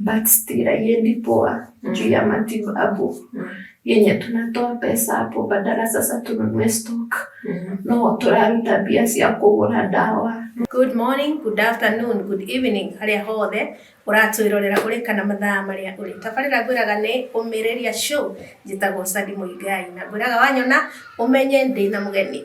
Backstira yendi poa juu ya matibabu yenye tunatoa pesa hapo, badala sasa tununue stock no turaruta mbia cia kugura dawa. Good morning, good afternoon, good evening harĩa hothe ũratwĩrorera ũrĩ kana mathaa marĩa ũrĩ tabarĩra ngwĩraga nĩ ũmĩrĩria show njĩtagwo Sadi Mũigai na ngwĩraga wanyona ũmenye ndĩna mũgeni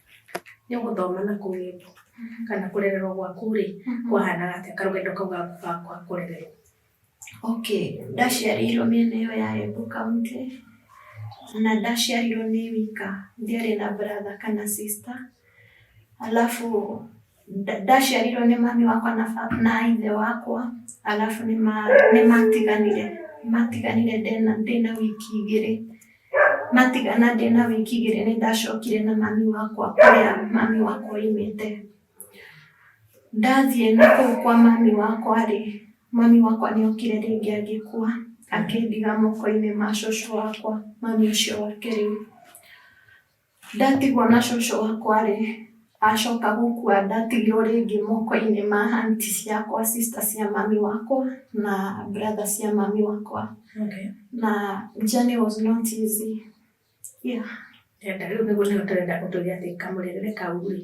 nĩ ũgũthoma na kũgendo kana kũrererwo gwaku rĩ kwahanaga atĩa karũgendo kau gaku ga kwa kũrererwo Okay, ndaciarĩirwo mĩena ĩyo ya Embu County na ndaciarirwo nĩ wika ndiarĩ na brother kana sister alafu Ndaciarirwo nĩ mami wakwa na ithe wakwa, arabu nĩmatiganire, matiganire ndĩna wiki igĩrĩ. Matigana ndĩna wiki igĩrĩ nĩndacokire na mami wakwa kũrĩa mami wakwa aumĩte. Ndathiĩ nakũu kwa mami wakwa-rĩ, mami wakwa nĩokire rĩngĩ agĩkua, akĩndiga moko-inĩ ma cũcũ wakwa, mami ũcio wa kerĩ. Ndatigwo na cũcũ wakwa-rĩ, acoka gũkua ndatigirwo rĩngĩ moko-inĩ ma aunt ciakwa, sister cia mami wakwa na brother cia mami wakwa. Na journey was not easy. Yeah. Rĩu nĩguo nĩho tũrenda ũtwĩre atĩ kamũrerere kau-rĩ,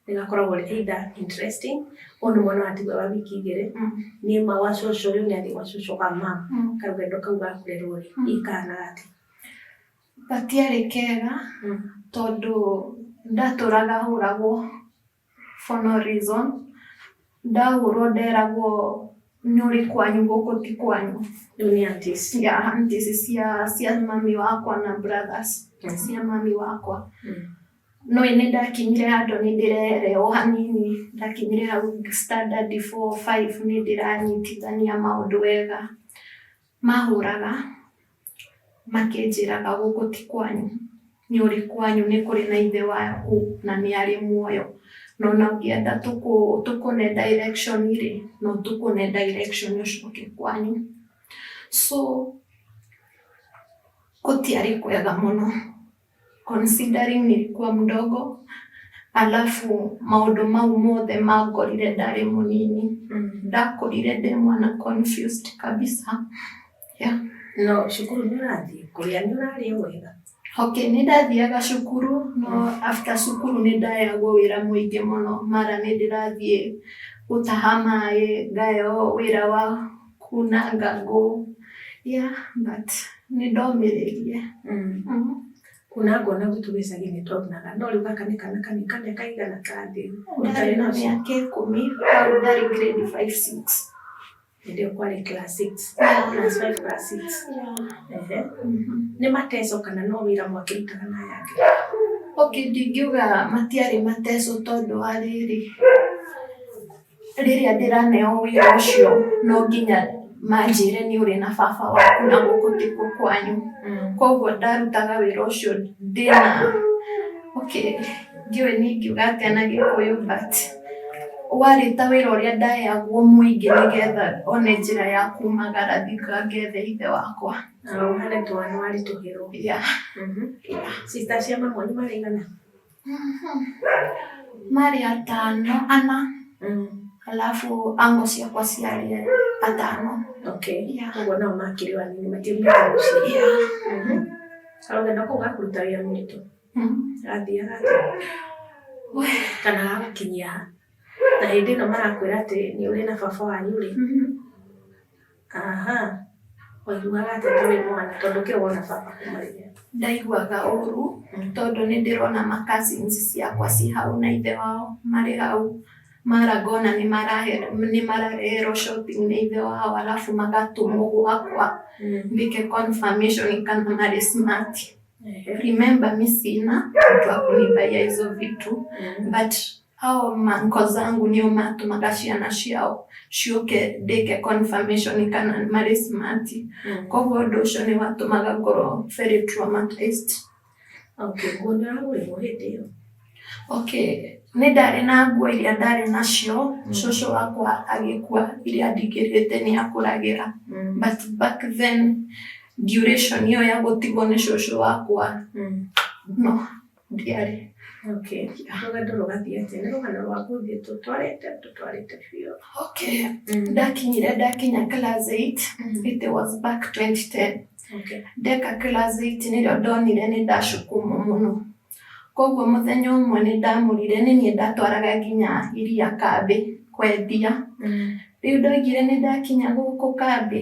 nĩgakoragwo karĩ either interesting, ũyũ nĩ mwana watigwo e wa wiki igĩrĩ, nĩ ma gwa cũcũ ũyũ nĩathiĩ gwa cũcũ wa mum, karũgendo kau ga kũrerwo-rĩ, hihi kahana atĩa. Gatiarĩ kega tondũ ndatũraga hũragwo for no reason. Ndahũrwo nderagwo nĩ ũrĩ kwanyu gũkũ ti kwanyu. Rĩu nĩ aunties. Yeah, aunties cia cia mami wakwa na brothers cia mami wakwa. No ĩĩ nĩ ndakinyire handũ nĩ ndĩrere o hanini, ndakinyire hau standard four, five nĩ ndĩranyitithania maũndũ wega. Maahũũraga, makĩnjĩraga, Gũkũ ti kwanyu, nĩ ũrĩ kwanyu, nĩ kũrĩ na Ithe waku, na nĩ arĩ muoyo. Na o na ũngĩenda tũkũne direction rĩ, no tũkũne direction ũcoke kwanyu. So, gũtiarĩ kwega mũno. considering nilikuwa mdogo alafu maundu mau mothe mangorire ndarĩ mũnini ndakorire ndĩ mwana confused kabisa No cukuru nĩ ũrathiĩ kũrĩa nĩ ũrarĩa wega. okay nĩ ndathiaga cukuru no after cukuru nĩ ndayagwo wĩra mũingĩ mũno mara nĩ ndĩrathiĩ gũtaha maĩ ngayagwo wĩra wa kunanga ngũ yeah but nĩ ndomĩrĩrie mm. mm. kuna ngona gutu gicagi nĩ twonaga no rĩu gaka nĩ kana kanĩ kana kaigana kathĩ ndarĩ na mĩaka ikũmi hau ndarĩ grade five six ndio kwale class 6 class 5 class 6 ehe nĩ mateso kana no wĩra mwakĩrutaga na yake okay ndingiuga matiarĩ mateso tondũ wa rĩrĩ rĩrĩa ndĩraneo wĩra ũcio no nginya manjĩre nĩ ũrĩ na baba waku na gũkũ tikuo kwanyu. Mm. Koguo ndarutaga wĩra ũcio ndĩna okay, ndiũĩ nĩ ingiuga atĩa na gĩkũyũ but warĩ ta wĩra ũrĩa ndayagwo mũingĩ nĩgetha one njĩra ya kumagara thika ngethe ithe wakwa. Harĩ twana waritũhĩrwo. Yeah. Mm -hmm. yeah. Sister cia mamu nĩ maraigana? Marĩ atano ana mm. alafu ango ciakwa ciarĩ atano okay. yeah. ũguo nao makĩrĩ wanini matiumĩte mũciĩ mm-hmm. arogenda kũu gakuruta wĩra mũritũ athiaga mm-hmm. kana agakinyia na hĩndĩ ĩno marakwĩra atĩ nĩ ũrĩ na baba wanyu rĩ mm-hmm. Aha, waiguaga atĩa ta wĩ mwana tondũ kĩo wona baba akũmarĩria? Ndaiguaga ũru tondũ nĩ ndĩrona ma cousins ciakwa ci hau na ithe wao marĩ hau. Mara ngona nĩ marahe- nĩ marareherwo shopping nĩ ithe wao arabu magatũmwo gwakwa ndĩke confirmation kana marĩ smart. Remember mi sina mtu wa kunibuyia hizo vitu but Hao manko zangu nio matumaga ciana ciao ciũke ndĩke confirmation kana marĩ smart Mm. koguo ũndũ ũcio nĩ watũmaga ngorwo very traumatized Okay, nguo nĩ ũragũrĩrwo hĩndĩ ĩyo. okay nĩ ndarĩ na nguo iria ndarĩ nacio Mm. cũcũ wakwa agĩkua iria ndingĩrĩte nĩ akũragĩra Mm. but back then duration ĩyo ya gũtigwo nĩ cũcũ wakwa Mm. no Ndiarĩ. Okay. Rũgendo rũgathiĩ atĩa? Nĩ rũgano rwa gũthiĩ tũtwarĩte tũtwarĩte biũ. Okay. Mm. Ndakinyire ndakinya class 8. Mm. It was back 2010. Okay. Ndeka class 8 nĩrĩo ndonire nĩ ndacukuma mũno. Koguo mũthenya ũmwe nĩ ndamũrire nĩ niĩ ndatwaraga nginya iria kambĩ kwendia. Mm. Rĩu ndoigire nĩ ndakinya gũkũ kambĩ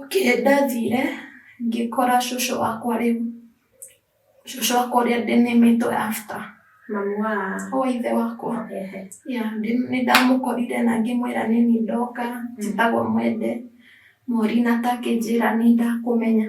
Okay, ndathire ngĩkora cũcũ wakwa rĩu cũcũ wakwa ũrĩa ndĩnĩmĩtwe after mamu wa o ithe wakwa yeah, nĩ ndamukorire na ngĩmwĩra nĩ niĩ ndoka njĩtagwo mwende mori na takĩnjĩra nĩ ndakũmenya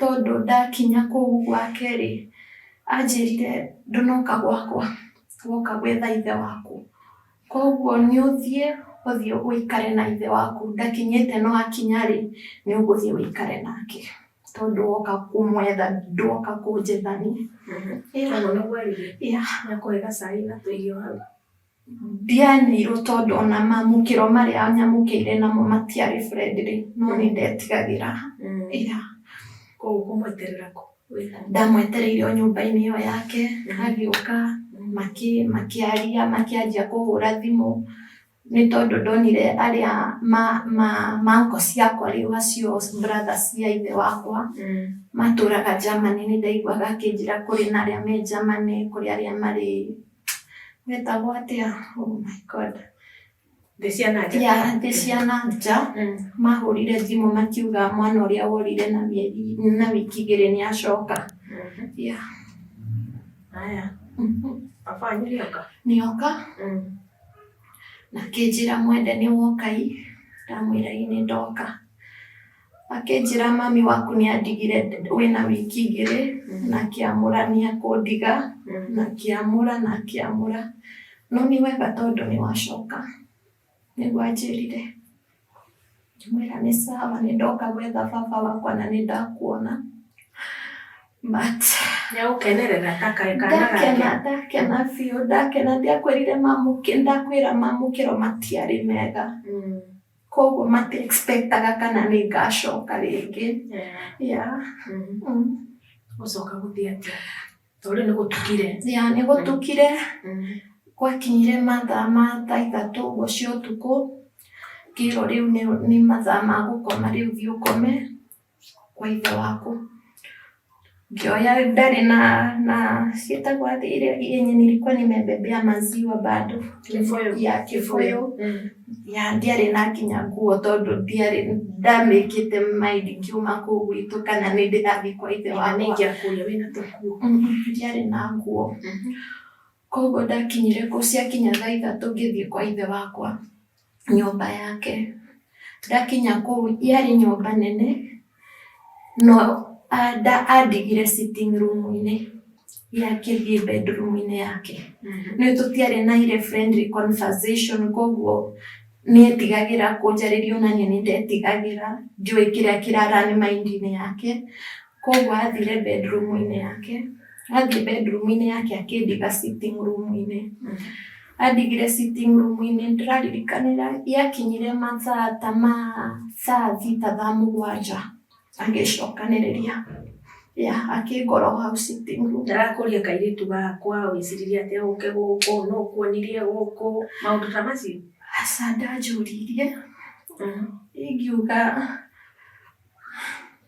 Tondũ ndakinya kũu gwake-rĩ, anjĩrire, 'Ndũnoka gwakwa, woka gwetha ithe waku. Kwoguo nĩũthiĩ ũthiĩ ũikare na ithe waku, ndakinyĩte no akinya-rĩ, nĩũgũthiĩ ũikare nake, tondũ woka kũmwetha, ndwoka kũnjetha niĩ. Ũguo nĩguo augire? Yeah. Nĩakũhe gacai na tũirio hau. Ndianeirwo tondũ ona mamũkĩro marĩa nyamũkĩire namo matiarĩ friendly no nĩ ndetigagĩra ira. Koguo ũkũmweterera kũ? Ndamwetereire o nyũmba-inĩ ĩyo yake, agĩũka makĩaria makĩanjia kũhũra thimũ, nĩ tondũ ndonire arĩa ma uncle ciakwa rĩu acio brother cia ithe wakwa matũraga Germany nĩ ndaiguaga akĩnjĩra kũrĩ na arĩa me Germany, kũrĩ arĩa marĩ Wĩtagwo atĩa? Oh my God. Thĩ cia na nja. Ya thĩ cia na nja Mm. mahũrire thimũ makiuga mwana ũrĩa worire na mĩeri na wiki igĩrĩ nĩ acoka. Mhm. Ya. Haya. Baba wanyu nĩoka? Nĩoka Mm. na kĩnjĩra mwende nĩ wokai ndamwĩra ĩ nĩ ndoka. Akĩnjĩra, Mami waku nĩ andigire wĩ na wiki igĩrĩ, na akĩamũra nĩ ekũndiga, na akĩamũra na akĩamũra. No nĩ wega tondũ nĩ wacoka, nĩguo anjĩrire. Ngĩmwĩra, Nĩ sawa, nĩ ndoka gwetha baba wakwa na nĩ ndakuona. But Nĩ agũkenerera ta ka kaana gake. ndakena ndakena biũ ndakena ndiakwĩrire mamũkĩ ndakwĩra mamũkĩro matiarĩ mega Mm. Koguo mati expectaga kana nĩ ngacoka rĩngĩ. Yeah. Gũcoka gũthiĩ atĩa? Tondũ rĩu nĩ gũtukire. Yeah, nĩ gũtukire. Gwakinyire mathaa ma thaa ithatũ ũguo cia ũtukũ, ngĩrwo rĩu nĩ mathaa ma gũkoma rĩu thiĩ ũkome. kwa ithe waku ngioya ndari na na cietagwo athi iria yenye nilikuwa nimebebea maziwa bado Kibuyu. ya kibuyu Mm. ya ndiarĩ na nginya nguo tondũ ndiarĩ ndamĩkĩte maindi ngiuma kũu gwitũ kana nĩ ndĩrathiĩ kwa ithe Ĩga nĩ wakwa ingĩakuria wĩna tũkuo. Mm, mm, ndiarĩ na nguo Mhm. Kwoguo ndakinyire kũu, ciakinya thaa ithatũ ngĩthiĩ kwa ithe wakwa nyũmba yake. Ndakinya kũu yarĩ nyũmba nene no andigire sitting room -inĩ ye akĩthiĩ bedroom -inĩ yake. Nĩ ũĩ tũtiarĩ na ile friendly conversation kwoguo nĩ etigagĩra kũnjarĩria o na niĩ nĩ ndetigagĩra, ndiũĩ kĩrĩa kĩra run mind -inĩ yake. Koguo athire bedroom-inĩ yake, athiĩ bedroom-inĩ yake akĩndiga sitting room-inĩ. Andigire sitting room-inĩ ndĩraririkanĩra yakinyire mathaa ta ma thaa thita thaa mũgwanja agĩcokanĩrĩria. Yeah, akĩngora o hau sitting room. Ndarakũria kairĩtu gakwa weciririe atĩa ũke gũkũ, nũ ũkuonirie gũkũ, maũndũ ta macio? Aca ndanjũririe, ingiuga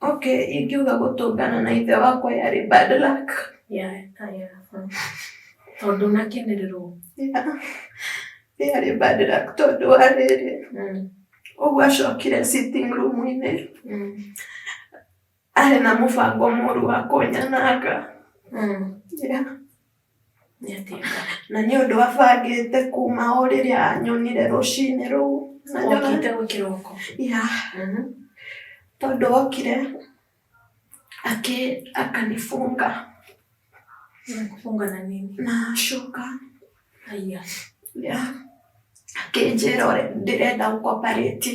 Okay, ingiuga gũtũngana na ithe wakwa yarĩ bad luck. Yeah, yeah. Tondũ nakenererwo. Yeah. Yarĩ bad luck tondũ wa rĩrĩ. Mm. Ũguo acokire sitting room-inĩ. Mm. Arĩ na mũbango mũru wa kũnyananga. Mm. Yeah. Na nĩ ũndũ abangĩte kuma o rĩrĩa anyonire rũcinĩ rũu. Na nyona- Okĩte o kĩroko. Ya, Mhm. tondũ okire akĩ akanifunga Kufunga na nini. na shuka Haya. ya akĩnjĩra ũrĩa ndĩrenda gũkoparĩti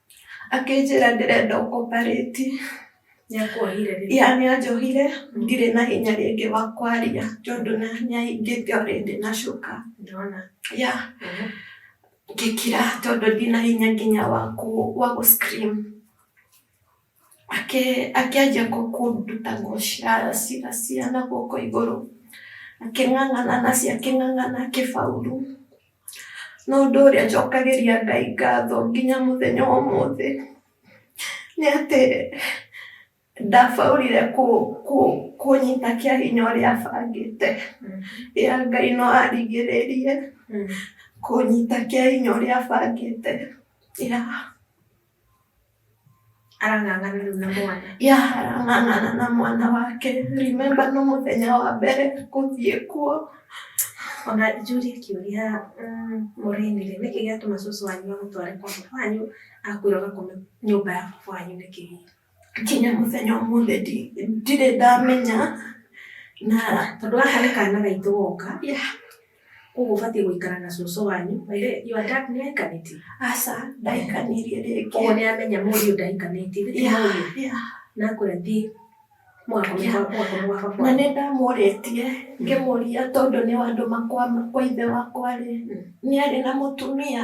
Akĩnjĩra ndĩrenda ũkombarĩti. Nĩ akuohire rĩu. Ya nĩ anjohire, ndirĩ na hinya rĩngĩ wa kwaria tondũ na nĩ ahingĩte already na cuka. Ndona. Ya, Mhm. ngĩkira tondũ ndina hinya nginya wa kũ wa gũ scream. Akĩanjia kũnduta nguo cia na guoko igũrũ, akĩng'ang'ana nacio akĩng'ang'ana akĩbauru. No ũndũ ũrĩa njokagĩria Ngai ngatho nginya mũthenya wa ũmũthĩ nĩ atĩ ndabaũrire kũnyita kĩa hinya ũrĩa abangĩte. Ĩa Ngai no arigĩrĩirie kũnyita kĩa hinya ũrĩa abangĩte. arang'ang'ana rĩu na mwana ya arang'ang'ana na mwana wake remember no mũthenya wa mbere gũthiĩ kuo ona njũrie kĩũria mm, mũrĩnire nĩkĩ gĩatũma cũcũ wanyu amũtware kwa baba wanyu akwĩra ũgakome nyũmba ya baba wanyu nĩkĩ hihi nginya mũthenya ũmũthĩ ndirĩ ndamenya, na tondũ gaka nĩ kana gaitũ goka, koguo ũbatiĩ gũikara na cũcũ wanyu, by the way your dad nĩ ahikanĩtie? Aca ndahikanirie rĩngĩ. Koguo nĩ amenya mũriũ ndahikanĩtie, githĩ ti mũriũ? Na akwĩra thiĩ mũgakome gwa baba kwanyu. Na nĩ ndamũrĩtie ngĩmũria tondũ nĩ wandũma kwa ithe wakwa rĩ, nĩ arĩ na mũtumia?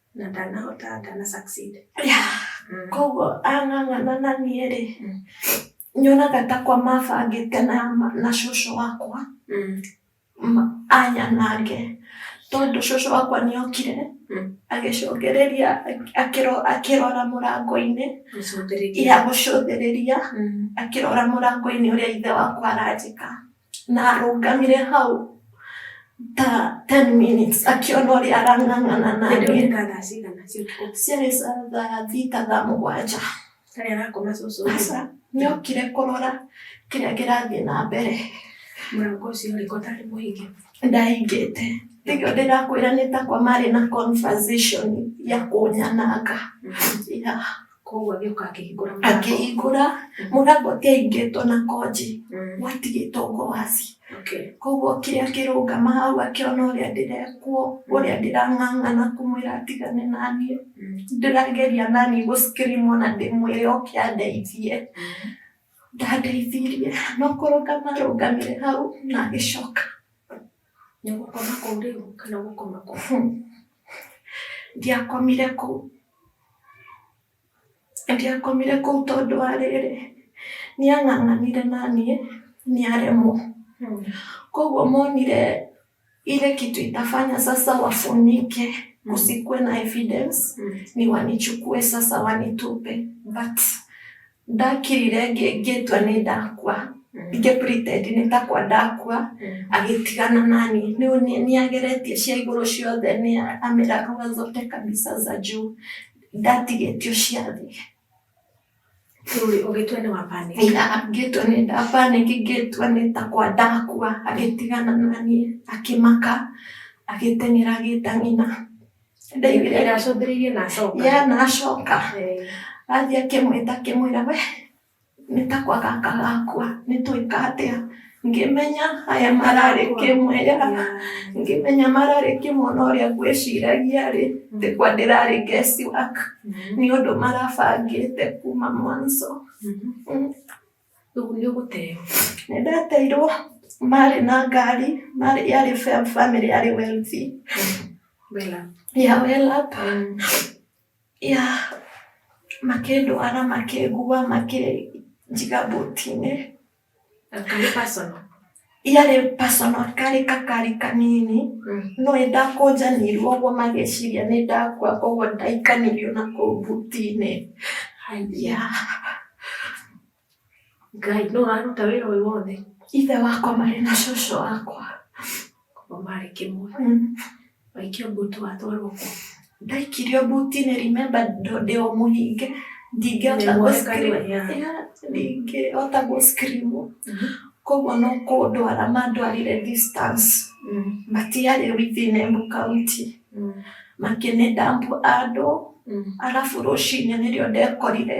na ndanahota ndana succeed yeah. mm. koguo ang'ang'ana na niĩ rĩ mm. nyonaga ta kwa mabangĩte na, na cũcũ wakwa mm. anyanange tondũ cũcũ wakwa nĩ okire mm. agĩcũngĩrĩria akĩrora mũrango-inĩ ya gũcũthĩrĩria mm. akĩrora mũrango-inĩ ũrĩa ithe wakwa aranjĩka na arũgamire hau ta 10 minutes akĩona ũrĩa arang'ang'ana na Hĩndĩ ĩyo niĩ nĩ ta thaa cigana cia ũtukũ ciarĩ sa- thaa thita thaa mũgwanja tarĩ arakoma cũcũ aca nĩokire kũrora kĩrĩa kĩrathiĩ na mbere mũrango ũcio ũrĩko tarĩ mũhinge ndahingĩte nĩkĩo ndĩrakwĩra nĩ takwa marĩ na conversation ya kũnyananga yeah. Koguo agĩũka akĩhingũra mũrango. Akĩhingũra mũrango ti aingĩtwo na konji. Mm. Watigĩtwo ngwaci. Okay. Koguo kĩrĩa kĩrũngama hau akĩona ũrĩa ndĩrekwo, ũrĩa ndĩrang'ang'ana kũmwĩra atigane naniĩ. Mm. Ndĩrageria naniĩ gũcikrimwo na ndĩmwĩre oke andeithie. Mm. Ndandeithirie no kũrũngama arũngamire hau na agĩcoka. Nĩ gũkoma kũu rĩu kana gũkoma kũu? Ndiakomire kũu. Ndiakomire kũu tondũ wa rĩrĩ, nĩ ang'ang'anire na niĩ, nĩ aremwo. Koguo monire ile kitu itafanya sasa wafunike kusikuwe na evidence ni wanichukue sasa wanitupe but Ndakirire ngĩtua nĩ ndakua, ningĩ pretend nĩ takwa ndakua, agĩtigana nani. Rĩu nĩ ageretie cia igũrũ ciothe nĩ ameragũra zote kabisa za juu. Ndatigĩtio cia thĩ. Rĩu rĩ, ũgĩtua nĩ wa panic? Ngĩtua nĩ nda panic ngĩtua nĩ takwa ndakua, agĩtigana naniĩ, akĩmaka, agĩteng'era agĩĩta nyina. ndaigire nacũthĩrĩirie na acoka ya na acoka athiĩ akĩmwĩta akĩmwĩra we nĩ takwa gaka gakwa nĩ twĩka atĩa ngĩmenya aya mararĩ kĩmwĩra ngĩmenya mararĩ kĩmwona ũrĩa ngwĩciragia rĩ ndĩkwa ndĩrarĩ guess work nĩ ũndũ marabangĩte kuma mwanzo. Rĩu nĩ gũteyo. Nĩ ndateirwo marĩ na ngari, marĩ yarĩ bamĩrĩ yarĩ wealthy. Wela. Ya well up. Ya makĩndwara makĩngua makĩnjiga mbũti-inĩ. Ngari personal. iyo arĩ personal karĩ kakari kanini mm. no ndakũnjanirwo ũguo magĩciria nĩ ndakua koguo ndaikanirio na kũu buti-inĩ ngai no aruta wĩra ũyũ wothe ithe wakwa marĩ na cũcũ wakwa koguo marĩ kĩmwe mm. Waikio mbuti watwarwo kũ? Ndaikirio mbuti-inĩ remember ndĩ o mũhinge ndingĩhota ndingĩhota gũ scream koguo no kũndwara mandwarire distance matiarĩ within Embu County makĩnĩ dump handũ arabu rũcinĩ nĩrĩo ndekorire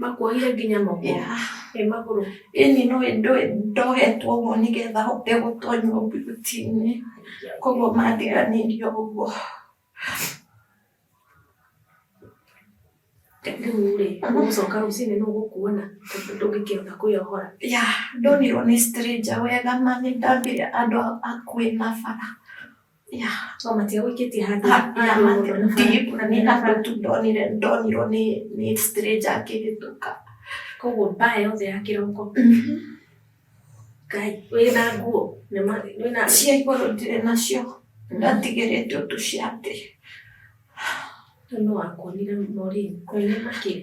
Makuohire nginya moko? Yeah. Ĩ magũrũ? Ĩni no ndogetwo ũguo nĩ getha hote gũtonywo mbiuti-inĩ. Koguo mandiganĩirio ũguo. Rĩu-rĩ, ũgũcoka rũcinĩ nĩ ũgũkuona tondũ ndũngĩkĩhota kwĩyohora. Ya, ndonirwo nĩ stranger wega ma nĩ ndambire andũ akuĩ na bara. Ya, to matiga gwĩkĩtie handũ Ha- ya, igũrũ mati- mũno. deep, na nĩ handũ tu ndonire ndonirwo nĩ nĩ stranger akĩhĩtũka koguo mbaa yothe ya kĩroko ngai wĩna nguo nĩ ma- wĩna cia igũrũ ndirĩ nacio ndatigĩrĩte ũndũ cia thĩ no wakuonire morĩi kwene makĩrĩ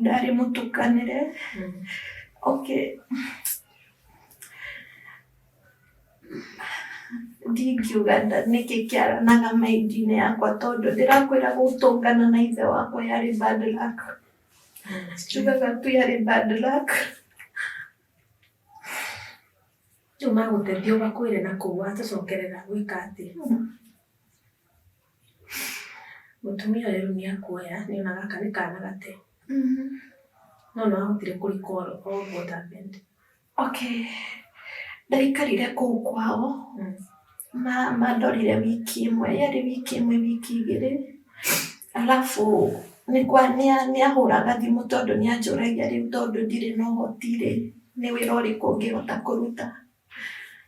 ndarĩ mũtukanĩre okay ndingiuga nda- nĩkĩ kĩaranaga maindi-inĩ yakwa tondũ ndĩrakwĩra gũtũngana na ithe wakwa yarĩ bad luck njugaga tu yarĩ bad luck rĩu magũteithia ũgakwĩre na kũu watũcokerera gwĩka atĩ Mũtumia ũyũ rĩu nĩ akuoya, nĩ ona gaka nĩ kana gate. No nĩ wahotire kũ recall all what happened. Okay, nĩ aikarire kũu kwao, mandorire wiki ĩmwe, yarĩ wiki ĩmwe wiki igĩrĩ, arabu nĩ ahũraga thimũ tondũ nĩ anjũragia rĩu tondũ ndirĩ na ũhoti rĩ, nĩ wĩra ũrĩkũ ũngĩhota kũruta.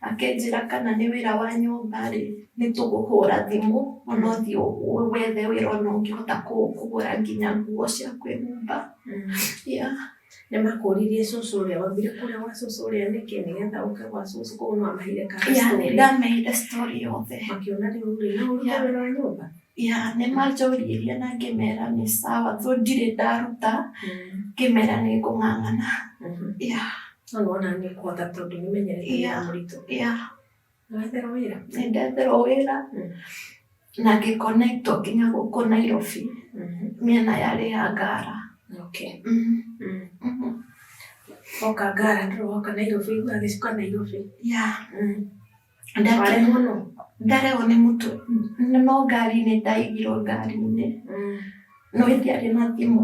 Akĩnjĩra kana nĩ wĩra wa nyũmba rĩ, nĩ tũgũhũra thimũ ona ũthiĩ wethe wĩra ona ũngĩhota kũgũra nginya nguo cia kwĩhumba. Yeah. Nĩ makũririe cũcũ ũrĩa wambire kũrĩa gwa cũcũ ũrĩa nĩkĩ nĩgetha ũke gwa cũcũ koguo nĩ wamaheire ka Yeah, nĩ story. ndameire story yothe. Makĩona rĩu rĩ, no ũrute Yeah. wĩra wa nyũmba? Ya, nĩ manjũririe na ngĩmera nĩ sawa, though ndirĩ ndaruta, ngĩmera nĩ ngũng'ang'ana. Mhm. Yeah. No wona nĩ kũhota tondũ nĩ menyerete wĩra Yeah. mũritũ. Yeah. Nĩ wetherwo wĩra? Nĩ ndetherwo wĩra Mm. na ngĩ connect nginya gũkũ Nairobi Mhm. mĩena yarĩ ya Ngara. Okay. Mhm. Mm. Mhm. Woka Ngara ndũrĩ woka Nairobi, ũgagĩcuka Nairobi. Yeah. Mm. ndarewo no ndarewo nĩ mũtu no ngari-inĩ ndaigirwo ngari-inĩ mm. no ithiarĩ na thimũ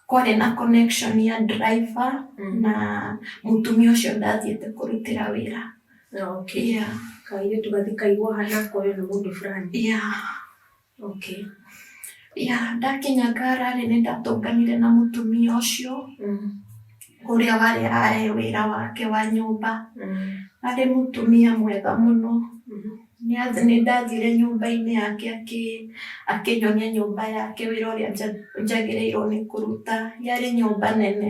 kwarĩ na connection ya driver mm. na mũtumia ũcio ndathiĩte kũrutĩra wĩra okay. yeah. kairĩtu gathikairwo hana koyo nĩ mũndũ fulani yeah. Okay. Ya, ndakinya ngara-rĩ, nĩ ndatũnganire na mũtumia ũcio ũrĩa warĩ arahe wĩra wake wa nyũmba. Arĩ mũtumia mwega mũno. Nĩ ndathire nyũmba-inĩ yake akĩnyonia nyũmba yake wĩra ũrĩa njagĩrĩirwo nĩ kũruta. Yarĩ nyũmba nene.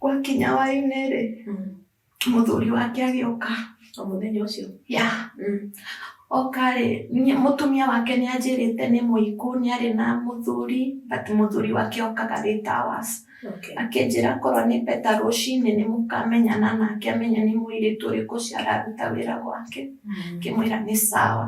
Gwakinya hwainĩ-rĩ, mũthuri wake agĩũka. O mũthenya ũcio? Yeah. Oka-rĩ, mũtumia wake nĩanjĩrĩte nĩ mũikũ, nĩarĩ na mũthuri, but mũthuri wake okaga arĩ ta was. Okay. Akĩnjĩra korwo nĩ beta rũcinĩ nĩmũkamenyana nake amenye nĩ mũirĩtu ũrĩkũ ũcio araruta wĩra gwake. Ngĩmwĩra nĩ sawa.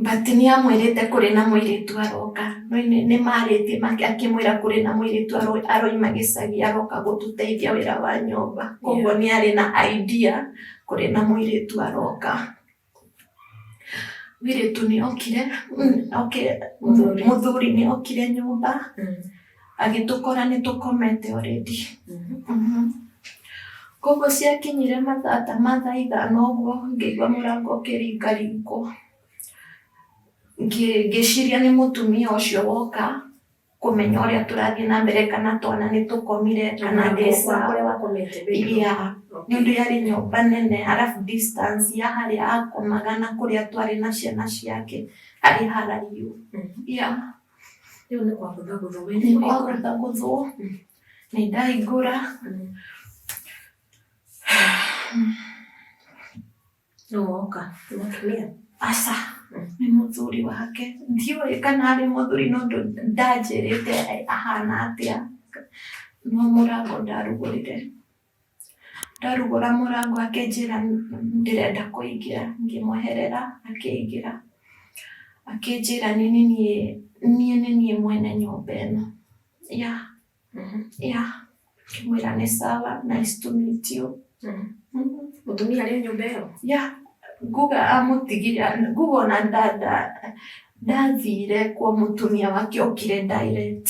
But nĩ amwĩrĩte kũrĩ na mũirĩtu aroka. No nĩ marĩtie akĩmwĩra kũrĩ na mũirĩtu aroima gĩcagi aroka gũtũteithia wĩra wa nyũmba. Koguo nĩ arĩ na idea kũrĩ na mũirĩtu aroka. Mũirĩtu nĩ okire, mũthuri nĩ okire nyũmba. agĩtũkora nĩ tũkomete already Mhm. koguo ciakinyire mathaa ta mathaa ithano ũguo ngĩigua mũrango ũkĩringaringwo Ngĩ- ngĩciria nĩ mũtumia ũcio woka kũmenya ũrĩa tũrathiĩ na mbere kana twana nĩ tũkomire kana ndĩ sawa kũrĩa wakomete bedroom. Yeah, nĩ ũndũ yarĩ nyũmba nene arabu distance ya harĩa akomaga na kũrĩa twarĩ na ciana ciake harĩ haraihu Mhm. yeah. Rĩu nĩ kwagũtha gũthwo. Nĩ kwagũtha gũthwo. Mm. Nĩ ndaingũra. Mm. Nũ woka? Nĩ mũtumia? Aca. Mm. Nĩ mũthuri wake. Ndiũĩ kana arĩ mũthuri no ndanjĩrĩte ahana atĩa. No mũrango ndarugũrire. Ndarugũra mũrango akĩnjĩra ndĩrenda kũingĩra ngĩmweherera akĩingĩra. Akĩnjĩra nĩ nĩ niĩ niĩ nĩ niĩ mwene nyũmba ĩno. Yeah yeah ngĩmwĩra nĩ sawa nice to meet you. Mũtumia arĩ o nyũmba ĩyo? Yeah nguga amũtigire nguga ona ndathire kwa mũtumia wake okire direct.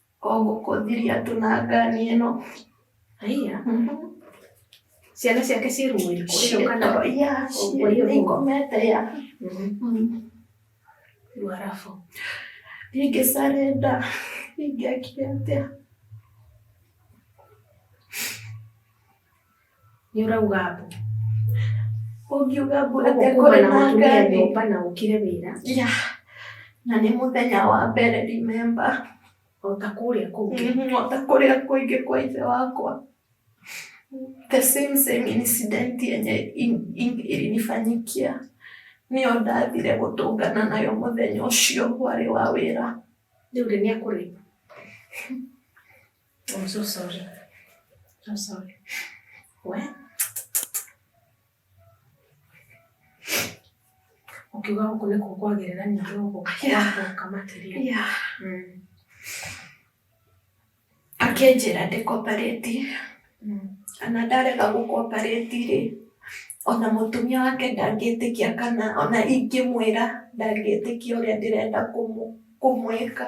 O gũkũthiria andũ na ngani ĩno. Haiya. Ciana ciake ciĩ rumu irĩkũ? Ĩyo kana Ciĩto, ya, Ũguo ciĩ- irĩkũ? nĩngomete ya. Mm. Rĩu arabu. Ingĩcarenda, ingĩakire atĩa? Nĩ ũrauga mbu. Ũngiuga mbu atĩ Ũguo kuma kũrĩ na na mũtumia ngari. nyũmba na ũkire wĩra Yeah. Na nĩ mũthenya wa mbere remember. o ta kũrĩa kũngĩ. Mhm, o ta kũrĩa kũingĩ kwa ithe wakwa. The same same incident yenye in- in- ilinifanyikia nĩyo ndathire gũtũngana nayo mũthenya ũcio warĩ wa wĩra. Rĩu rĩ nĩ akũrĩ? I'm so sorry. I'm sorry. What? ukiuga gũkũ nĩ kũkwagĩrĩra ningĩ gũkũ kwakũka makĩria akĩnjĩra ndĩkoparĩti ana ndarega gũkoparĩti rĩ ona mũtumia wake ndangĩtĩkia kana ona ingĩmwĩra ndangĩtĩkia ũrĩa ndĩrenda kũmwĩka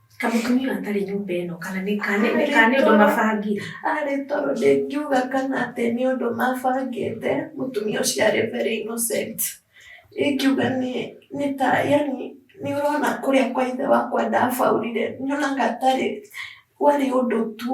Ta mũtumia ũyũ atarĩ nyũmba ĩno kana nĩ kana nĩ kana nĩ ũndũ mabangire. Arĩ toro ndĩngiuga kana atĩ nĩ ũndũ mabangĩte, mũtumia ũcio arĩ very innocent. Ingiuga nĩ nĩ ta yaani nĩ ũrona kũrĩa kwa ithe wakwa ndabaũrire, nyonaga tarĩ warĩ ũndũ tu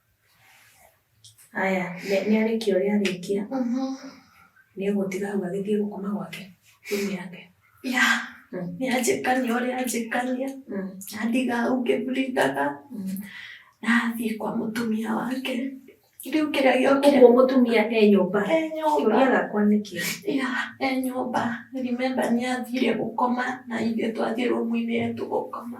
Haya, nĩ- nĩ arĩkia ũrĩa arĩkia nĩ egũtiga hau agĩthiĩ gũkoma gwake rumu yake ya nĩ anjĩkania ũrĩa anjĩkania andiga hau ngĩbrindaga nathiĩ kwa mũtumia wake rĩu kĩrĩa gĩokire ũguo mũtumia e nyũmba e kĩũria nyũmba gakwa nĩ kĩĩ ya e nyũmba remember nĩ athire gũkoma na ithuĩ twathiĩ rũmu-inĩ tũgũkoma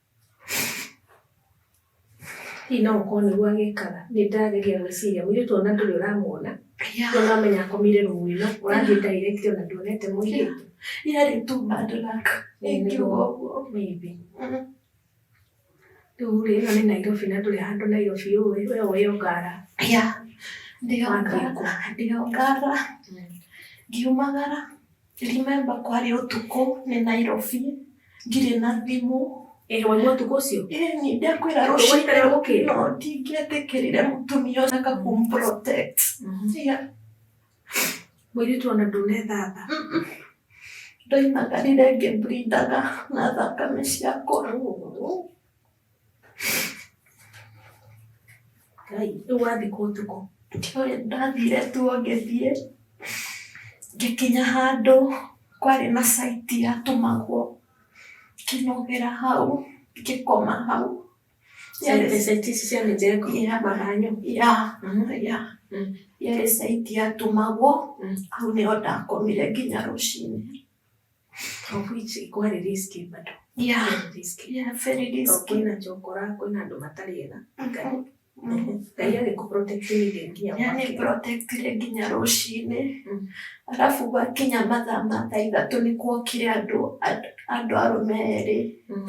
Hihi no gũkorwo nĩguo agĩkaga, nĩ ndageria gwĩciria, mũirĩtu ona ndũrĩ ũramuona, no ũramenya akomire room ĩno, ũrathiĩ direct ona nduonete mũirĩtu. Yarĩ tu bad luck, ĩngiuga ũguo. Maybe. Rĩu rĩ, ĩno nĩ Nairobi na ndũrĩ handũ Nairobi ũĩ, we ũĩ o Ngara. Yeah, ndĩ o Ngara, ndĩ o Ngara, ngiumagara. Remember kwarĩ ũtukũ nĩ Nairobi ndirĩ na thimũ ĩrwo nĩ ũtukũ ũcio ĩni ndekwĩra rũcinĩ rũkĩno ndingĩetĩkĩrire mũtumia ũcio aka kumprotect yeah. mũirĩtu ona ndũnethamba ndoimagarire ngĩbrindaga na thakame ciakwa Ngai, rĩu wathikwo ũtukũ ndioĩ ndathire tu o ngĩthiĩ ngĩkinya handũ kwarĩ na site yatũmagwo ngĩnogera hau ngĩkoma hau Site site ici cia mĩjengo Yeah. maranyu ya ya Mm. yarĩ site yatũmagwo Mm. hau nĩho ndakomire nginya rũcinĩ Of which kwarĩ risky bado. Yeah. Very risky. Yeah, very Tondũ risky. kwĩna njokora kwĩna andũ matarĩ ega ngai Mhm. ngai agĩkũprotectĩire nginya Yani mwaki. protectire nginya rũcinĩ Mm. arabu gwakinya mathaa ma thaa ithatũ nĩ kuokire andũ and- andũ arũme erĩ Mm.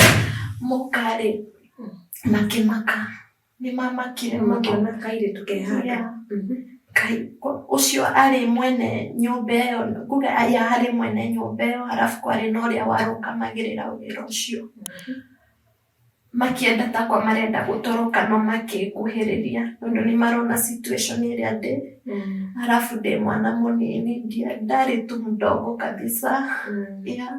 mokarĩ Mm. makĩmaka Nĩ mamakire mũno. Makĩona kairĩtu ke handũ. Yeah. Mhm. Kai, ko- ũcio arĩ mwene nyũmba ĩyo kuga aya harĩ mwene nyũmba ĩyo harabu kwarĩ na ũrĩa warũgamagĩrĩra wĩra ũcio makĩenda takwa marenda gũtoroka no makĩnguhĩrĩria tondũ nĩ marona situation ĩrĩa ndĩ Mm. harabu ndĩ mwana mũnini ndia- ndarĩ tu mdogo kabisa Mm. yeah.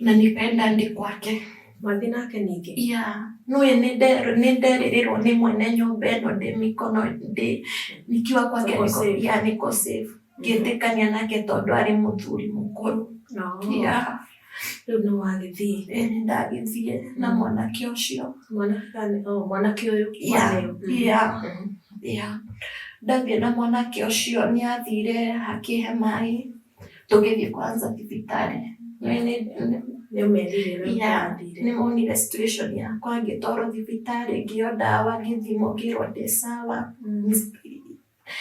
na nĩ penda ndi kwake mwathi nake ningĩ ya no ye nĩ nde- nĩ nderirĩrwo nĩ mwene nyũmba ĩno ndĩ mĩkono ndĩ nikiwa kwake Nĩko nĩko- safe. ya nĩko safe ngĩtĩkania nake tondũ arĩ mũthuri mũkũrũ no ya rĩu nĩ wagĩthiĩ ĩ nĩ ndagĩthiĩ na Mm. mwanake ũcio mwanake kana- oh, mwanake ũyũ ya waneo. Mm. ya Mhm. ya ndathiĩ na mwanake ũcio nĩ athire hakĩhe maĩ tũgĩthiĩ kwanza thibitarĩ Nĩ- nĩ- nĩ- Nĩ ũmerire na Yeah. ũkambire. nĩ monire situation yakwa ngĩtwarwo thibitarĩ ngĩo ndawa ngĩthimwo ngĩrwo ndĩ sawa Mm.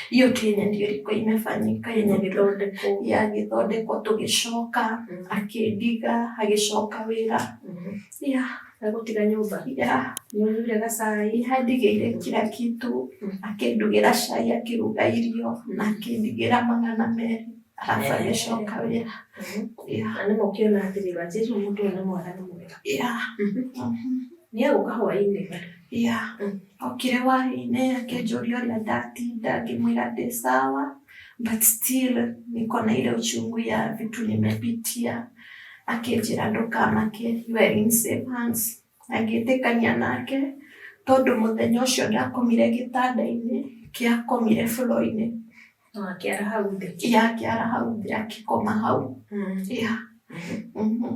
hiyo tu yenye ndio ilikuwa imefanyika yenye Yenye ndio gĩthondekwo. yagĩthondekwo tũgĩcoka Mm. akĩndiga agĩcoka wĩra Mhm. yeah. Agũtiga nyũmba. Yeah. Nĩũnyuire gacai. Nĩandigĩire kila kitu. Akĩndugĩra cai, akĩruga irio, na akĩndigĩra magana merĩ. Arabu agĩcoka wĩra. Yeah. Na nĩma ũkĩona atĩrĩ, Wanjĩrũ ũyũ mũndũ ũyũ nĩ mwega nĩ mwega. Yeah. Nĩegũka hwaĩ-inĩ. Yeah. Okire hwaĩ-inĩ akĩnjũria ũrĩa ndatinda, ngĩmwĩra ndĩ sawa. but still niko na ile uchungu ya vitu nimepitia akenjira ndukamake you are in safe hands agĩtĩkania nake tondũ mũthenya ũcio ndakomire gĩtanda-inĩ kĩakomire floor-inĩ Akĩara hau thĩ. yakĩara hau thĩ akĩkoma hau yeah. Mhm.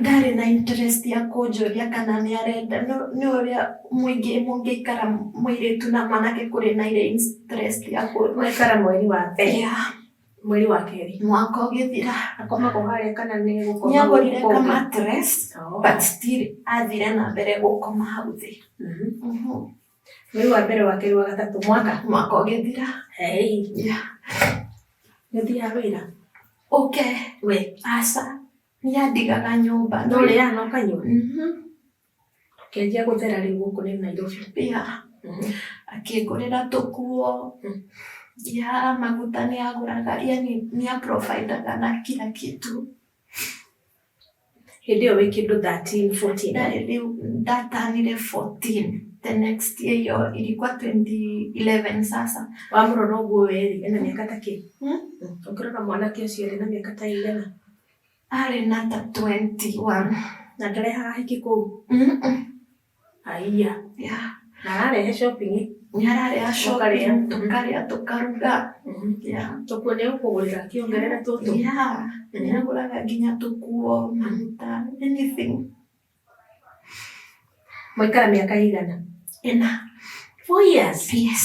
ndarĩ na interest ya kũnjũria kana nĩ arenda nĩ ũrĩa mũingĩ mũngĩikara mũirĩtu na mwanake kũrĩ na irĩ interest ya kũikara mweri wa mbere yeah. mweri wa kerĩ mwaka ũgĩthira akomagwo harĩa kana nĩ gũkoma nĩ agũrire ka mattress oh. but still athire na mbere gũkoma hau thĩ mm -hmm. mm -hmm. mweri wa mbere wa kerĩ wa gatatũ mwaka mwaka ũgĩthira hei nĩthiaga wĩra ũke we aca nĩandigaga nyũmba no rĩ ya noka nyũmba Mhm. kenjia gũthera rĩu gũkũ nĩ nairobi ya akĩngũrĩra tũkuo ya maguta nĩ agũraga yani nĩ aprovidaga na kila kitu Hĩndĩ ĩyo wĩ kĩndũ 13, 14. Ndarĩ rĩu ndatanyire 14 the next year hiyo ilikuwa 2011 sasa Wamũrora ũguo weri, ena mĩaka ta kĩ? hmm? Ũngĩrora mwanake ũcio rĩ, na mĩaka ta igana. arĩ na ta 21 Na ndarehaga hiki kũu. Mm-mm. Aiya. Yeah. Na ararehe shopping. Nĩ arareha shopping, tũkarĩa, tũkaruga. Mhm. Yeah. Tũkuo nĩ egũkũgũrĩra kĩongerere tũtũ. Yeah. Nĩ agũraga nginya tũkuo, maguta, anything. Mwaikara mĩaka ĩigana? Ĩna. Four years? Yes.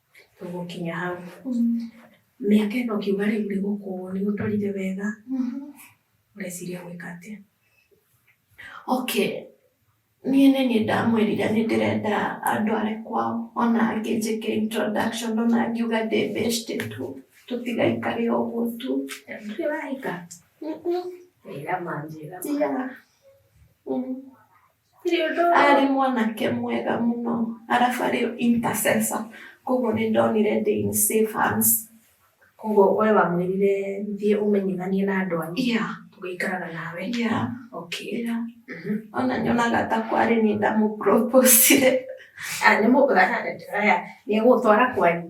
tũgũkinya hau mĩaka ĩno ũkiuga rĩu nĩ gũkũ nĩ gũtwarire wega ũreciria gwĩka atĩa okay niĩ nĩ niĩ ndamwĩrire nĩ ndĩrenda andware kwao ona angĩ njĩke introduction ona ngiuga ndĩ beshte tu tũtigaikare ũguo tu ndũrĩ wahika wĩra manjĩra yeah. mm. arĩ mwanake mwega mũno arabu arĩ intercessor koguo nĩ ndonire ndĩ in safe hands. Koguo we wamwĩrire thiĩ ũmenyithanie na andũ anyu? Yeah. Tũgĩikaraga nawe? Yeah. Okay. Yeah. Mhm. Ona nyonaga ta kwarĩ nĩ ndamũ propose-ire. Ah, nĩ mũgũtwara kwanyu?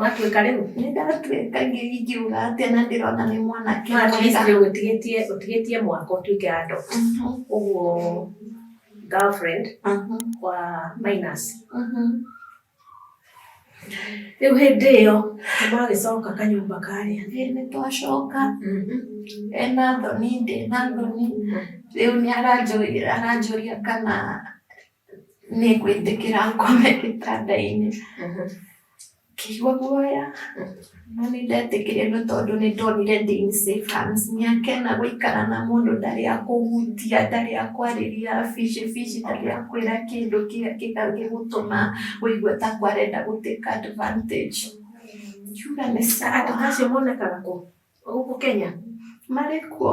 Watuĩka rĩu? Nĩ ndatuĩka ingiuga atĩa na ndĩrona nĩ mwanake mwega. Ũtigĩtie ũtigĩtie mwaka ũtuĩke andũ. Ũguo girlfriend wa minus. Rĩu hĩndĩ ĩyo magĩcoka kanyũmba karĩa. Nĩ twacoka. Ena thoni ndĩ na thoni. Rĩu nĩ aranjũria kana nĩ ngwĩtĩkĩra ngome gĩtanda-inĩ kĩigua guoya no nĩ ndetĩkĩrire nĩ tondũ nĩ ndonire ndĩ in safe hands mĩaka ĩna gũikara na mũndũ ndarĩ akũhutia ndarĩ akwarĩria bici bici ndarĩ akwĩra kĩndũ kĩngĩgũtũma wĩigue ta akwa arenda gũ take advantage ngiuga nĩ sawa. Andũ ta acio monekaga kũ? Gũkũ Kenya? Marĩ kuo.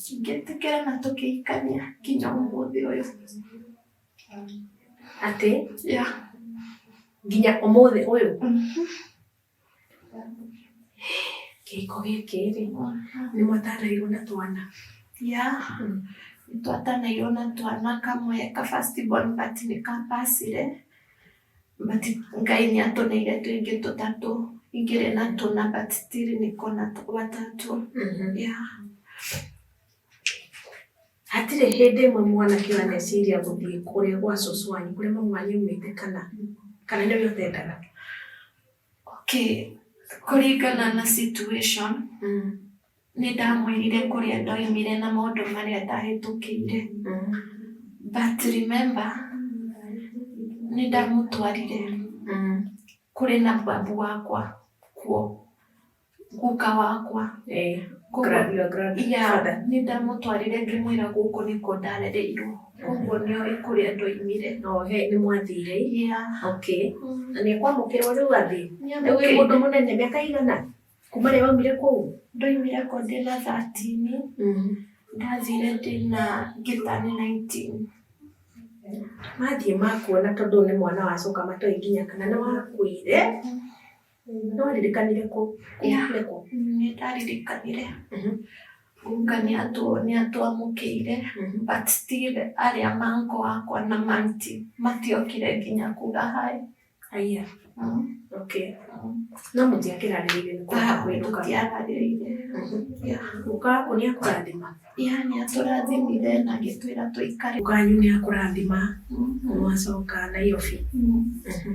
Tũngĩtĩkĩra na tũkĩikania nginya ũmũthĩ ũyũ. Atĩ? Ya. Nginya ũmũthĩ ũyũ? Mhm. Kĩhiko gĩkĩ rĩ, nĩ mwatanairwo na twana? Ya. Mm. Nĩ twatanairwo na twana kamwe ka first born but nĩ ka pacire. But Ngai nĩ atũneire tũingĩ tũtatũ ingĩrĩ na tũna but still niko na tũ- watatũ Mhm. yeah. hatirĩ hĩndĩ ĩmwe mwanake ũyũ aneciria gũthiĩ kũrĩa gwa cũcũ wanyu kũrĩa mamu wanyu aumĩte kana kana nĩwe ũtendaga Okay, kũringana na situation nĩ ndamwĩrire kũrĩa ndoimire na maũndũ marĩa ndahĩtũkĩire but remember nĩ ndamũtwarire kũrĩ na babu wakwa kuo guka wakwa Eh, Koguo- gra- your grandfather. ya nĩ ndamũtwarire ngĩmwĩra gũkũ nĩkuo ndarereirwo koguo nĩo kũrĩa ndoimire No, he, nĩ mwathire. ya Okay. mm, Na nĩ kwamũkĩrwo rĩu athiĩ. Rĩu wĩ nĩamũkĩire. mũndũ mũnene mĩaka igana? Kuma rĩrĩa waumire kũu? ndoimire ko ndĩ na thatini ndathire ndĩ na ngĩtani 19 Mathiĩ makuona tondũ nĩ mwana wacoka matoĩ nginya kana nĩ wakuire. No aririkanire kũ? Yeah. Nĩ kũ? nĩ ndaririkanire Mhm. kuga nĩ atũ- nĩ atwamũkĩire Mhm. but still arĩa manko wakwa na manti matiokire nginya kuga hi Aya. Mm. Okay. No mũtiakĩrarĩrĩire nĩ kwenda Ah, kwĩruka. tũtiararĩrĩire Mhm. Yeah. Guka waku nĩ akũrathima. Yeah, nĩ atũrathimire na agĩtwĩra tũikare Guka wanyu nĩ akũrathima. Mm. Mwacoka Nairobi. Mm. Mhm.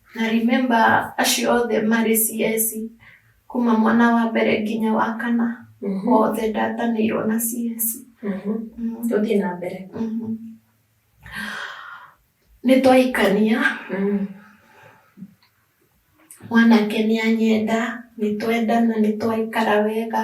Na remember acio othe marĩ CS kuma mwana wa mbere nginya wa kana Mhm. othe ndatanĩirwo na CS. Mhm. Mm. Tũthiĩ na mbere. Mhm. Nĩ twahikania, Mm. mwanake nĩ anyenda, nĩ twendana, nĩ twaikara wega.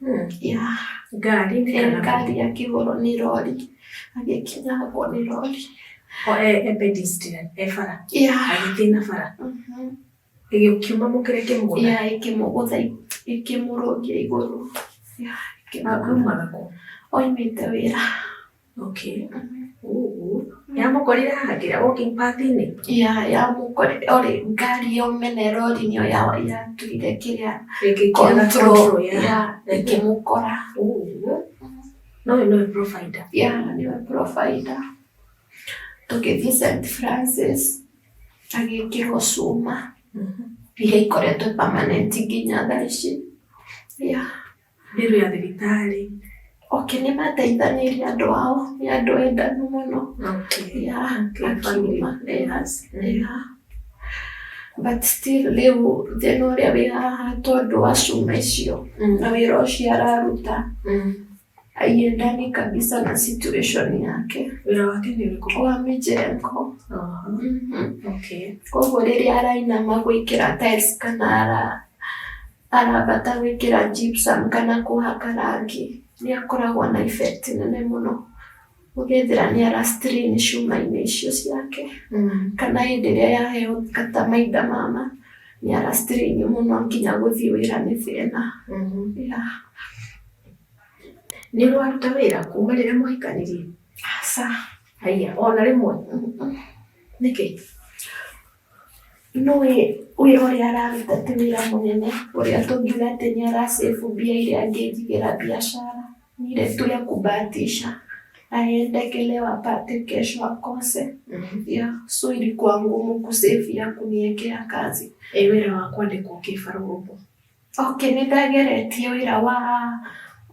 hmm. yeah. ngari ngari akĩhũrwo nĩ rori agĩkinyangwo nĩ rori agĩthĩna bara ĩgĩkiuma mũkĩre kĩmũgũtha ĩkĩmũgũtha ĩkĩmũrũngia igũrũ akiumaga kũ oimĩte wĩra Okay. Ooh. Yamũkorire haha kĩrĩa walking path-inĩ? ya ya gũkore orĩ ngari yo mene rorinĩ ya yatugire kĩrĩa Ĩkĩkĩra control control ya. ya ĩkĩmũkora Ooh. No ũyũ nĩwe provider. ya nĩwe provider tũgĩthiĩ St Francis agĩkĩrwo cuma iria ikoretwo permanent nginya thaa ici ya Mbiru ya thibitarĩ. Okay, nĩ mateithanĩirie andũ ao, nĩ andũ endanu mũno. Okay. Yeah, Okay, akiuma. family. Yes, yeah. But still rĩu thĩna ũrĩa wĩ haha tondũ wa cuma icio Mm. na wĩra ũcio araruta Mm. aiendani kabisa na situation yake Wĩra wake nĩ ũrĩkũ? wa mĩjengo. Aha. Mhm. Okay. Koguo rĩrĩa arainama gwĩkĩra tiles kana ara Arabata gwĩkĩra gypsum kana kũhaka rangi nĩ akoragwo na effect nene mũno ũgethĩra nĩ ara strain cuma-inĩ icio ciake kana hĩndĩ ĩrĩa yaheo ta maitha mama nĩ ara strain mũno nginya gũthiĩ wĩra nĩ thĩna. Yeah. Nĩ ũraruta wĩra kuma rĩrĩa mwahikanĩria? Aca. Haiya, ona rĩmwe? Nĩkĩ? Nũĩ ũyũ ũrĩa araruta ti wĩra mũnene, ũrĩa tũngiuga atĩ nĩ ara save mbia iria angĩnjigĩra biacara? Ni ile tu ya kubahatisha aende leo apate kesho akose. Yeah, so ilikuwa ngumu kusave ya kuniekea kazi. Ĩ wĩra wa kwandĩkwo kĩbarũa ũguo. Okay, nĩ ndageretie ũira wa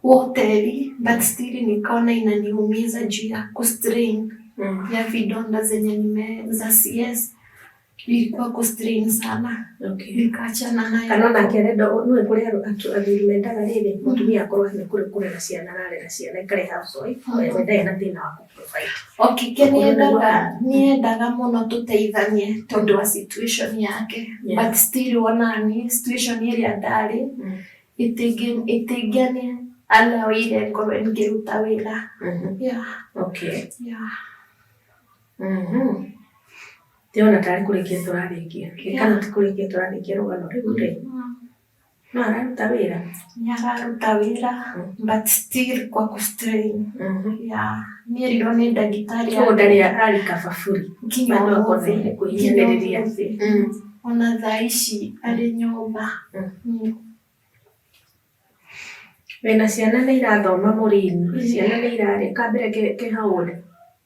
hoteli but still nikaona inaniumiza juu ya kustrain Mm. ya vidonda zenye nime za CS ilikuwa kustrain sana, Okay. nikaachana nayo. kana ona akĩenda nũĩ kũrĩ andũ atu- athuri mendaga rĩrĩ mũtumia akorwo nĩ kũrĩ kũrera ciana ararera ciana ikarĩ housewife we we ndarĩ na thĩna wa Okĩkenendaga nĩendaga mũno tũteithanie tondũ wa situation yake yes. but still wonani situation ĩrĩa ndarĩ mm. ĩtĩngĩani anaoire ngorwo ngĩruta wĩra mm-hmm. yeah. okay. yeah. mm -hmm. Ndĩrona tarĩ kũrĩkia tũrarĩkia. Ĩkana ti kũrĩkia tũrarĩkia rũgano rĩu rĩ. Mm-hmm. No araruta wĩra? Nĩ araruta wĩra mm. but still kwa ku strain. Mm -hmm. Yeah. Nĩ erirwo nĩ ndagĩtarĩ. Ũguo ndarĩ arari kababuri. Nginya ũmũthĩ. Kũhihanĩrĩria. Mm. Ona thaa ici arĩ nyũmba. Mm. Mm. Wĩna ciana nĩ irathoma mũrini? Ciana nĩ irarĩ? Kambere ke how old?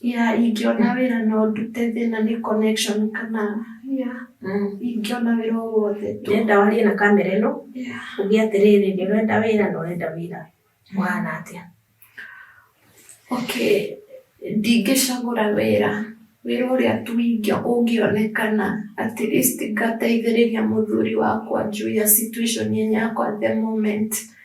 Yeah, ingĩona wĩra no ndute thĩna nĩ connection kana yeah, Mm. ingĩona wĩra o wothe tu. Ndĩrenda warie na kamera ĩno, Yeah. uge atĩrĩrĩ, nĩ ũrenda wĩra na ũrenda wĩra. Ũhana atĩa? Okay, ndingĩcagũra wĩra wĩra ũrĩa tu ingĩ ũngĩonekana at least ngateithĩrĩria mũthuri wakwa juu ya situation yenye yakwa at the moment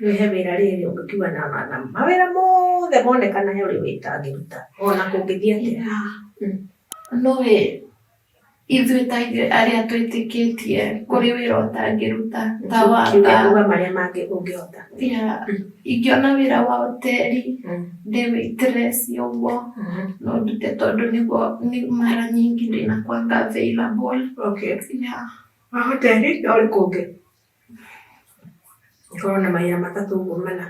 Nĩ he wĩra rĩrĩ ũngĩkiuga na matha mawĩra mothe monekana he ũrĩa wĩtangĩruta ona kũngĩthiĩ atĩa mm. no ĩ ithuĩ ta ithuĩ arĩa twĩtĩkĩtie kũrĩ wĩra ũtangĩruta ta wanga marĩa mangĩ ũngĩhota mm. ingĩona wĩra wa hoteli mm. ndĩ waitress ũguo mm-hmm. no ndute tondũ nĩguo nĩ mara nyingĩ ndĩnakwanga available okay. yeah. wa hoteli no rĩ kũngĩ Ngorwo na mawĩra matatũ ũguo mana.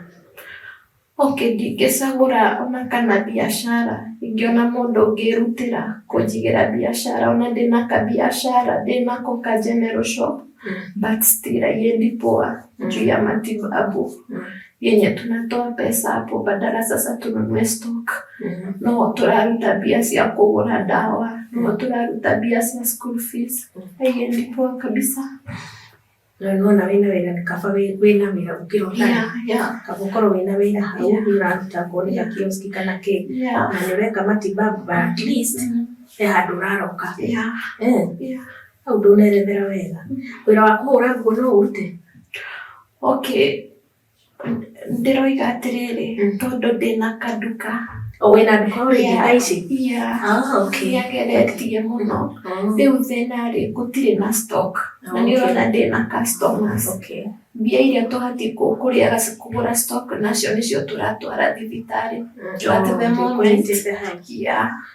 Okay ndingĩcagũra ona kana biacara, ingĩona mũndũ ũngĩrutĩra kũnjigĩra biacara ona ndĩna kabiacara ndĩnako ka general shop but still haiendi poa juu ya matibabu yenye tunatoa pesa hapo badala sasa tununue stock. No tũraruta mbia cia kũgũra ndawa, no tũraruta mbia cia school fees, haiendi poa kabisa. na nĩ wona wĩna wĩra nĩ kaba wĩ- wĩna wĩra gũkĩra ũtarĩ Yeah, yeah, kaba ũkorwo wĩna wĩra hau Yeah. nĩ ũraruta akorwo nĩ gakioski kana kĩ yeah. na nĩ ũreka matibabu but at least Mm, he handũ ũraroka yeah, Eh, yeah. hau ndũnerethera wega wĩra wa kũhũra nguo no ũrute Okay. ndĩroiga atĩrĩrĩ mm. tondũ ndĩna kanduka wĩna nduka ũrĩ nduka ici nĩageretie ah, mũno oh. rĩu thĩna rĩ gũtirĩ na stock na nĩ ũrona ndĩna customers mbia iria tũbatiĩ kũrĩa kũgũra stock nacio nĩcio tũratwara thibitarĩ mm. tũratĩbe momenti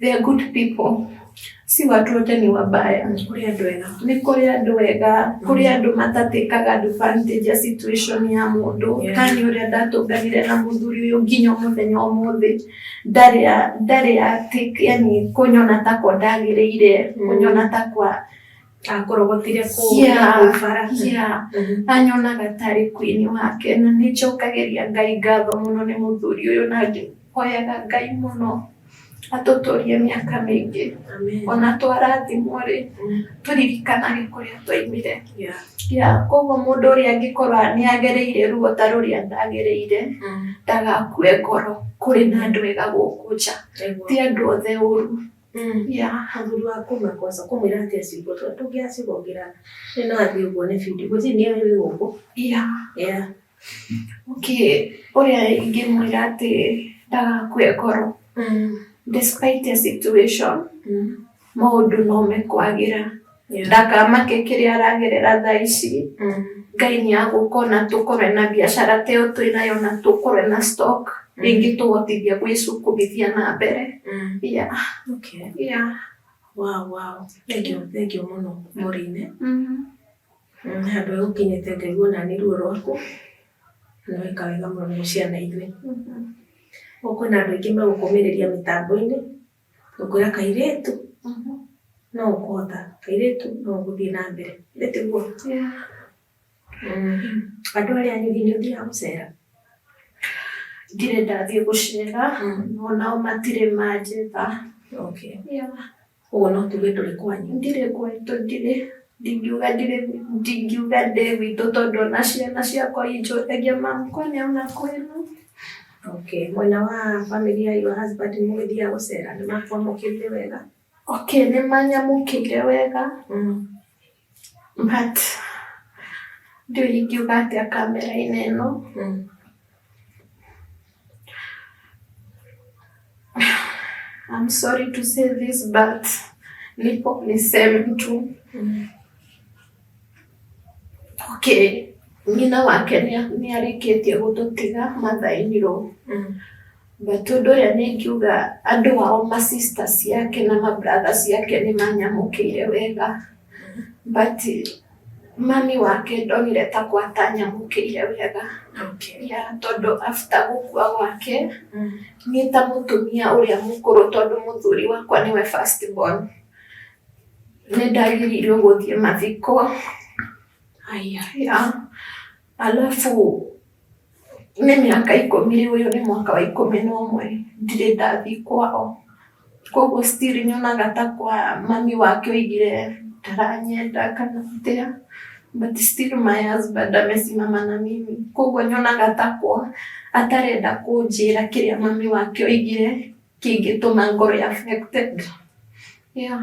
They are good people. Si watu wote ni wabaya. Kũrĩ andũ ega. Nĩ kũrĩ andũ ega, kũrĩ andũ matatĩkaga advantage ya situation ya mũndũ. Yeah. Kani ũrĩa ndatũnganire na mũthuri ũyũ nginya mũthenya ũmũthĩ ndarĩ a- ndarĩ a take yani kũnyona ta kwa ndagĩrĩire, Mm. kũnyona ta kwa Akũrogotire kũu Yeah. na kũu bara. yeah. Mhm. anyonaga tarĩ kwini wake na nĩ njokagĩria ngai ngatho mũno nĩ mũthuri ũyũ na Hoyaga Ngai mũno atũtũrie mĩaka mĩingĩ ona twarathimwo rĩ tũririkanage kũrĩa twaimire ya koguo mũndũ ũrĩa angĩkorwo nĩ agereire ruo ta rũrĩa ndagereire mm. ndagakue ngoro kũrĩ na andũ ega gũkũ nja ti andũ othe ũru mm. ya mũthuri wa kuma kwaca kũmwĩra atĩ acimbo tondũ ndũngĩacigongera nĩ no athiĩ ũguo nĩ bindi gũtirĩ nĩ ũyũ gũkũ ya okay ũrĩa ingĩmwĩra atĩ ndagakue ngoro mm. despite a situation mm. maũndũ no mekwagĩra yeah. ndakamake kĩrĩa aragerera thaa ici mm. ngai nĩ agũkona tũkorwe na biacara teo twĩnayo na tũkorwe na stock mm. rĩngĩ tũgotithia gwĩcukubithia na mbere mm. yeah. okay. yeah. wow, wow. thank you, thank you mũno mũrĩine mm -hmm. Handũ ha gũkinyĩte Ngai wona nĩ ruo rwaku, nĩ weka wega mũno nĩ gũciara ithuĩ. Rĩu kwĩna andũ aingĩ magũkũmĩrĩria mĩtambo-inĩ, gũkwĩra kairĩtu no ũkũhota, kairĩtu no ũgũthiĩ na mbere. Nĩ tiguo? Andũ arĩa anyu hihi nĩ ũthiaga gũcera? Ndirĩ ndathiĩ gũcera, o nao matirĩ manjĩta. Okay. Ũguo no tuge tũrĩ kwanyu. Ndirĩ gwitũ, ndirĩ ndingiuga ndirĩ ndingiuga ndĩ gwitũ tondũ ona ciana ciakwa injũragia makwa nĩ ona kwĩna okay mwena wa family ya your husband mũgĩthiaga gũcera nĩ makwamũkĩrire wega okay nĩ manyamũkĩire wega mm. but ndiũ ingiuga atĩa kamera-inĩ ĩno Mm. I'm sorry to say this but nipo niseme tu Mm. okay nyina wake nĩ- nĩarĩkĩtie gũtũtiga mathainirwo Mm. But ũndũ ũrĩa nĩ ingiuga andũ ao ma sister ciake na ma brother ciake nĩ manyamũkĩire wega but mami wake ndonire ta kwa atanyamũkĩire wega Okay. ya tondũ after gũkua gwake Mm. niĩ ta mũtumia ũrĩa mũkũrũ tondũ mũthuri wakwa nĩwe first born nĩ ndagĩrĩirwo gũthiĩ mathiko Aya. ya alafu Nĩ mĩaka ikũmi rĩu ũyũ nĩ mwaka wa ikũmi na ũmwe ndirĩ ndathiĩ kwao. Koguo still nyonaga ta kwa mami wake oigire ndaranyenda kana atĩa but still my husband amesimama na mimi. Koguo nyonaga ta kwa atarenda kũnjĩra kĩrĩa mami wake oigire kĩngĩtũma ngorũo affected yeah.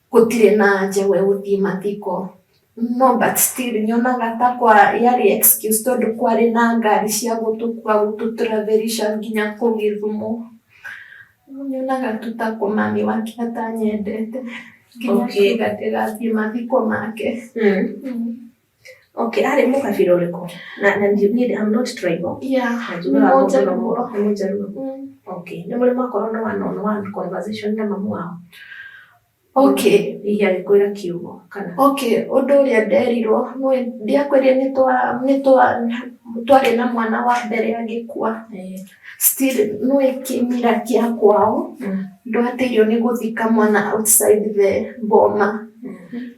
Gũtirĩ na anja we gũthiĩ mathiko. No but still nyonaga ta kwa yarĩ excuse tondũ kwarĩ na ngari cia gũtũkua gũtũ travelisha nginya kũu Gĩthumo. Rĩu nyonaga tu ta mami wake atanyendete nginya akiuga ndĩgathiĩ mathiko make. Okay, arĩ mũkabira ũrĩkũ? Na na niĩ I'm not tribal. Yeah, nĩ mũjaruo. Nĩ mũjaruo. Mm. Okay, nĩ mũrĩ mwakorwo na one on one conversation na mamu wao. Okay. Hihi agĩkwĩra kiugo kana. Okay, ũndũ ũrĩa nderirwo ndiakwĩrire nĩ twa nĩ twa twarĩ na mwana wa mbere agĩkua. Eh. Still nĩ kĩmira kĩa kwao. Mm. Ndwatĩirio nĩ gũthika mwana outside the boma. Mm.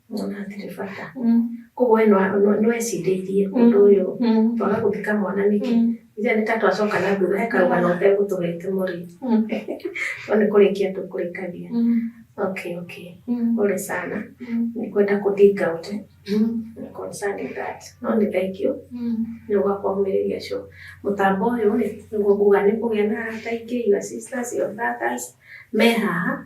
Mwana atirĩ bata. Koguo we nĩwecirĩirie ũndũ ũyũ twaga gũthika mwana nĩkĩ? Ithe nĩ ta twacoka na thutha he karũgano ũtegũtũhete mũrĩ. No nĩ kũrĩkia tũkũrĩkagia. Okay okay. Pole sana. Nĩ kwenda kũ dig out eh? Concerning that. No nĩ thank you nĩ ũga kũmĩrĩria show. Mũtambo ũyũ rĩ, nĩguo nguga nĩ ũkũgĩa na arata aingĩ, your sisters, your brothers me haha.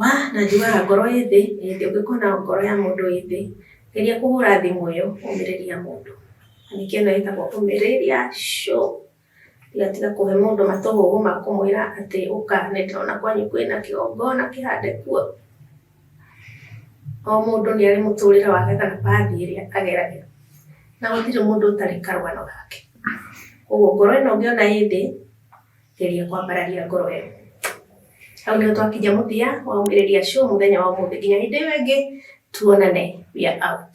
Wa, na njugaga ngoro ĩ thĩ, ĩ thĩ, ũngĩkona ngoro ya mũndũ ĩ thĩ, geria kũhũra thimũ ĩyo, ũmĩrĩrie mũndũ. Na ningĩ ĩno ĩtagwo ũmĩrĩria show. Ndũgatiga kũhe mũndũ matũhũhũ ma kũmwĩra atĩ ũka nĩ ndĩrona kwanyu kwĩna kĩgongona kĩhande kuo. O mũndũ nĩ arĩ mũtũrĩre wake kana path ĩrĩa ageragĩra. Na gũtirĩ mũndũ ũtarĩ karũgano gake. Kũguo ngoro ĩno ũngĩona ĩ thĩ... Geria kwambararia ngoro ĩyo. Hau nĩho twakinya mũthia wa Umĩrĩria Show mũthenya wa ũmũthĩ. Nginya hĩndĩ ĩyo ĩngĩ, tuonane. We are out.